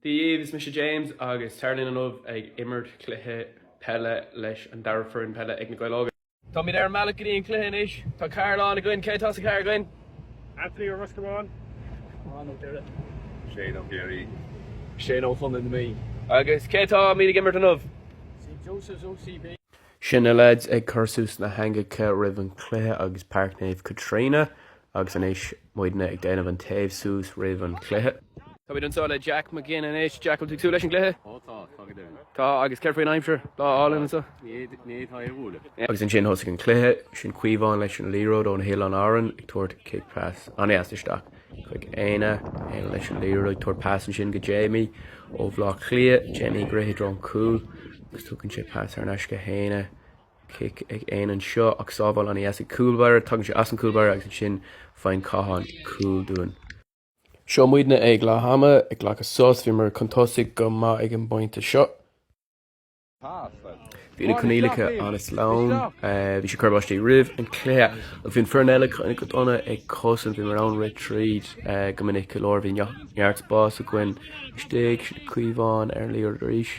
Dia dhaoibh, is mise James agus táim inniu ag imirt cluiche peile leis an dara foireann peile ag Na Gaeil Óga. Táimid ar an mbealach go dtí an cluiche anois. Tá carr lán againn. Cé atá sa charr againn? Anthony ó Ros Comáin. Seán ó Doire. Shane ó Chiarraí. Shane ó Chontae na Mí. Agus cé atáimid ag imirt inniu? St Joseph's OCB. Sin na leaids ag cur suas na heangacha roimh an cluiche ag Páirc Naomh Caitríona Agus anois, muidne ag déanamh an téamh suas roimh an chluiche. Táimid anseo le Jack McGinn anois. Jack, an bhfuil tú ag súil leis an gcluiche? Ó tá, tá go deimhin. Tá, agus céard faoin aimsir? Lá álainn anseo. Ní féidir é a bhualadh. Agus ansin thosaigh an cluiche, sin Caomhán leis an liathróid ó na hOileáin Árann ag tabhairt cic pas an-dheas isteach chuig Éanna, Éanna leis an liathróid ag tabhairt pas ansin go Jamie ó Bhleá Cliath, Jamie ag rith i dtreo an chúil agus tugann sé pas thar n-ais go hÉanna. Cic ag Éanna anseo, ach sábháil ana dheas ag cúl báire. Tagann sé as an cúl báire agus ansin faigheann Cáthán cúl dúinn. Seo muidne ag leath ama, ag glacadh sos. Bhíomar chun tosaigh go maith ag an bpointe seo. Bhí na coinníollacha an-sleamhain. Bhí sé ag cur báistí roimh an cluiche. Ach bhí an foireann eile cineál go dona ag cosaint. Bhíomar in ann rith tríd go minic go leor. Bhí neart spás againn istigh. Seo Caomhán ar an liathróid arís.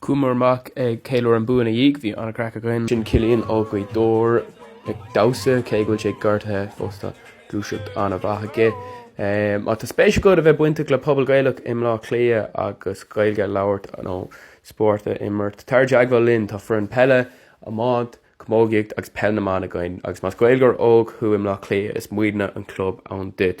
Chuamar amach ag ceiliúradh an bua ina dhiaidh. Bhí an-craic againn. Sin Cillian ó Ghaoth Dobhair ag damhsa, cé go bhfuil sé gortaithe fós tá gluaiseacht an-mhaith aige. Má tá spéis agat a bheith bainteach le pobal Gaelach i mBlá Cliath agus Gaeilge a labhairt nó spórt a imirt, tar i dteagmháil linn. Tá foireann peile, iomáint, camógaíocht agus peil na mban againn agus más Gaeilgeoir óg thú i mBlá Cliath is muidne an club duit.